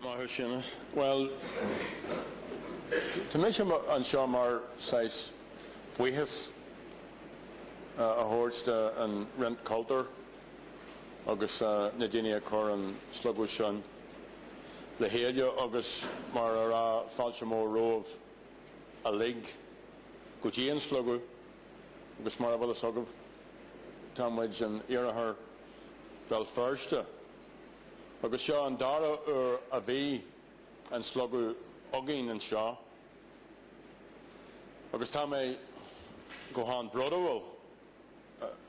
Maith thú a Sheáin, Bhuel, tá mise anseo mar saghas buíochas a thabhairt do an Roinn Cultúir agus na daoine a chuir an Slógadh sin le chéile agus mar a raibh fáilte mhór romhaibh. uilig go dtí an Slógadh agus mar a bhfuil fhios agaibh tá muid in Iarthar Bhéal Feirste agus seo an dara uair a bhí an Slógadh againn anseo agus tá mé go han brodúil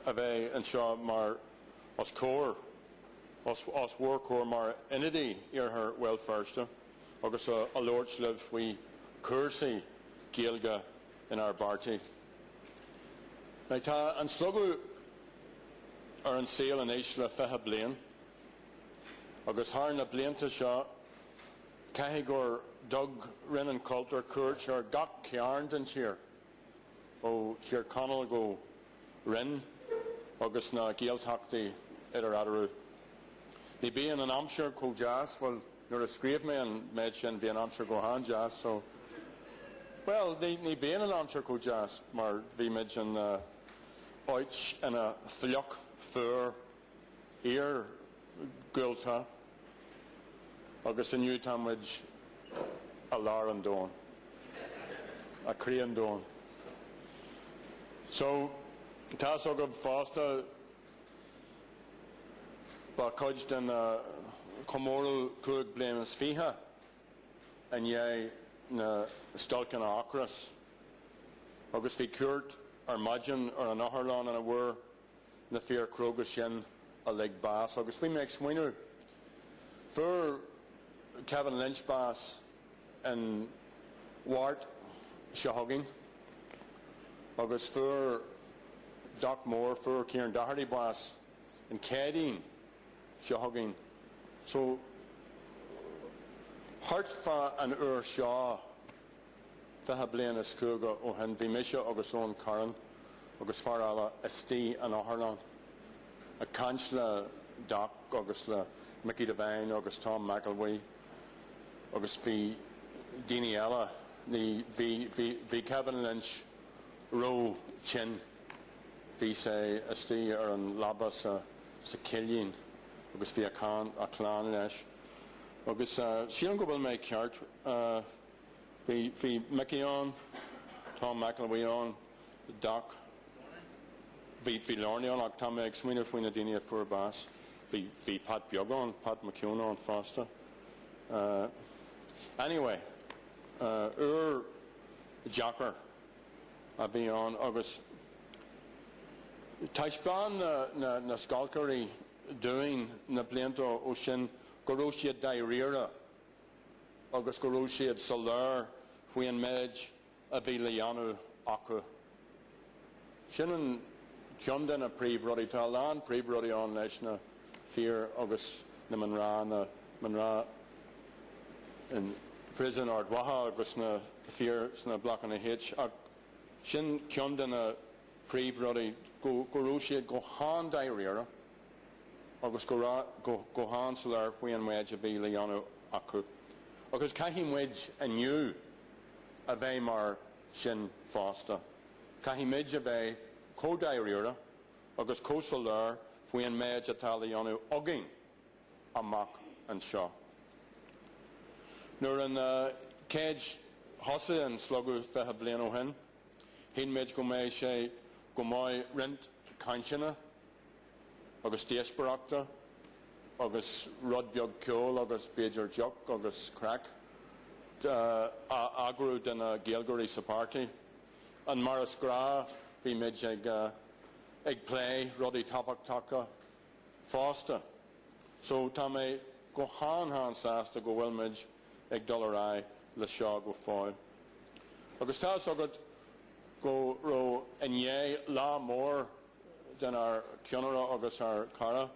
a bheith anseo mar os comhair, os bhur comhair mar ionadaí Iarthar Bhéal Feirste. agus a labhairt libh faoi chúrsaí Gaeilge inár bpáirtí. Now, tá an slógadh ar an saol anois le fiche bliain, agus thar na blianta seo, caithfidh gur thug Roinn an Chultúir cuairt ar gach cearn den tír, ó Thír Chonaill go Rinn agus na Gaeltachtaí idir eatarthu. Ní bíonn an aimsir chomh deas, bhuel, nuair a scríobh mé an méid sin bhí an aimsir go han-deas so, bhuel, ní bíonn an aimsir chomh deas mar bhí muid in áiteanna fliuch fuar. iargúlta agus inniu tá muid i lár an domhain, i gcroí an domhain. So, tá's agaibh fosta, ba chuid den chomóradh cúig bliana is fiche i ndiaidh na stailceanna ocrais agus bhí cuairt ar maidin ar an otharlann ina bhfuair na fir cróga sin uilig bás agus bhí mé ag smaoineamh, fuair Kevin Lynch bás an Mháirt seo chugainn agus fuair Doc Mór, fuair Kieran Doherty bás an Chéadaoin seo chugainn so, thart fá an uair seo Fiche bliain is cúig ó shin bhí mise agus Owen Carron agus fear eile istigh in otharlann ag caint le Doc agus le Mickey Devine agus Tom McElwee agus bhí daoine eile, ní, bhí, bhí, bhí Kevin Lynch ró, tinn, bhí sé istigh ar an leaba sa, sa chillín agus bhí a, a chlann leis agus sílim go bhfuil mé ceart, eh, Bhí, bhí Mickey ann, Tom McElwee ann, Doc, bhí, bhí Lorny ann ach tá mé ag smaoineamh faoi na daoine a fuair bás, bhí, bhí Pat beag ann, Pat McGeown ann fosta. Eh, anyway, eh, uair dheacair a bhí ann agus taispeáin na, na, na stailceoirí dúinn na blianta ó, ó sin go raibh siad dáiríre agus go raibh siad soiléir faoin méid a bhí le dhéanamh acu. Sin an ceann de na príomhrudaí. Tá a lán príomhrudaí ann leis na fir agus na mná, na mná in Príosún Ard Mhacha agus na fir sna Blocanna H ach sin ceann de na príomhrudaí, go raibh siad go han-dáiríre. agus go raibh go han-soiléir faoi an méid a bhí le dhéanamh acu, agus caithfidh muid inniu a bheith mar sin fosta, caithfidh muid a bheith chomh dáiríre agus chomh soiléir faoi an méid atá le dhéanamh againn amach anseo. Nuair a chéad thosaigh an Slógadh fiche bliain ó shin, shíl muid go mbeadh sé go maith roinnt cainteanna, agus díospoireachta agus rud beag ceoil agus b'fhéidir deoch agus craic a eagrú do na Gaeilgeoirí sa páirtí. And mar is gnách, bhí muid ag plé rudaí tábhachtacha fosta. So tá mé go han han sásta go bhfuil muid ag dul ar aghaidh le seo go fóill. Agus tá 'fhios agat go raibh inné lá mór den ár ceannaire agus ár gcara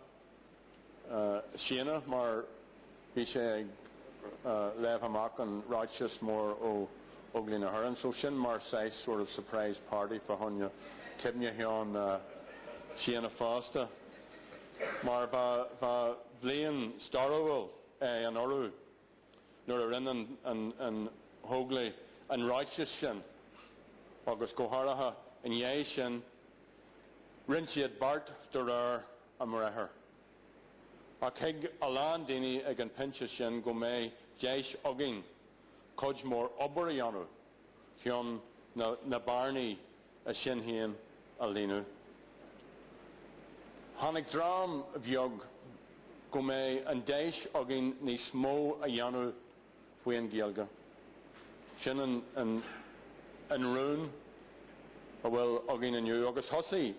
Séanna mar bhí sé ag léamh amach an ráiteas mór ó Óglaigh na hÉireann so sin mar saghas sort of surprise party fa choinne cuimhneachán Séanna fosta mar bha bha bhliain stairiúil é anuraidh. nuair a rinne na hÓglaigh an ráiteas sin, agus go háirithe i ndiaidh sin, rinne siad beart de réir a mbriathar. Ach thuig a lán daoine ag an phointe sin go mbeadh deis againn cuid mhór obair a dhéanamh chun na bearnaí i Sinn Féin a líonadh. Tháinig dream bheag go mbeidh an deis againn níos mó a dhéanamh faoi an Ghaeilge. Sin an an rún a bhfuil againn inniu agus thosaigh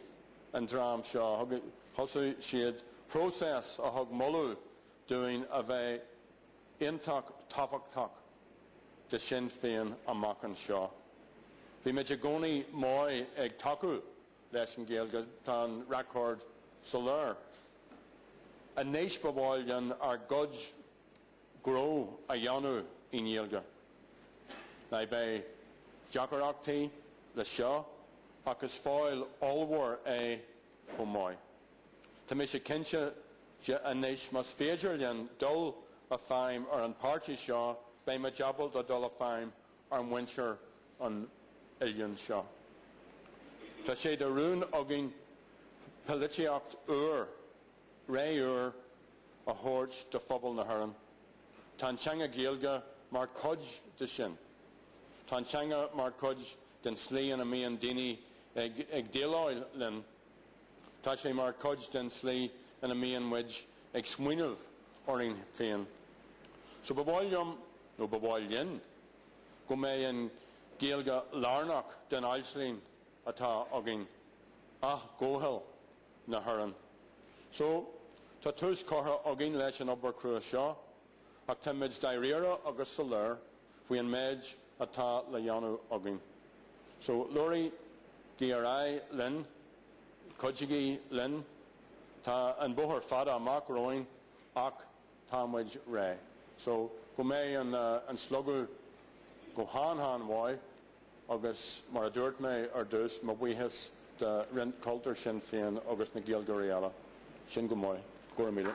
an dream seo, thosaigh siad próiseas a thug moladh dúinn a bheith, iontach tábhachtach de Shinn Féin amach anseo. Bhí muid i gcónaí maith ag tacú leis an Ghaeilge, tá an record soiléir. Anois ba mhaith linn ár gcuid gnó a dhéanamh i nGaeilge. Now beidh deacaireachtaí le seo ach is faill ollmhór é chomh maith. Tá mise cinnte de anois, más féidir linn dul i feidhm ar an páirtí seo, beidh muid ábalta dul i feidhm ar mhuintir an oileáin seo. Tá sé de rún againn poilitíocht úr, ré úr a thabhairt do phobal na hÉireann. Tá an teanga Gaeilge mar chuid de sin. Tá an teanga mar chuid den slí ina mbíonn daoine ag déileáil linn. Tá sé mar chuid den tslí ina mbíonn muid ag smaoineamh orainn féin. So ba mhaith liom, nó ba mhaith linn, go mbeidh an Ghaeilge lárnach den aisling atá againn, athghabháil na hÉireann. So, tá tús curtha againn leis an obair chrua seo, ach táimid dáiríre agus soiléir, faoi an méid atá le dhéanamh againn. So, leanaigí ar aghaidh linn, cuidigí linn, tá an bóthar fada amach romhainn ach tá muid réidh. So, go mbeidh an slógadh go han-han mhaith. Agus mar a dúirt mé ar dtús, mo bhuíochas do Roinn Cultúir Shinn Féin agus na Gaeilgeoirí eile. Sin go maith. Go raibh míle.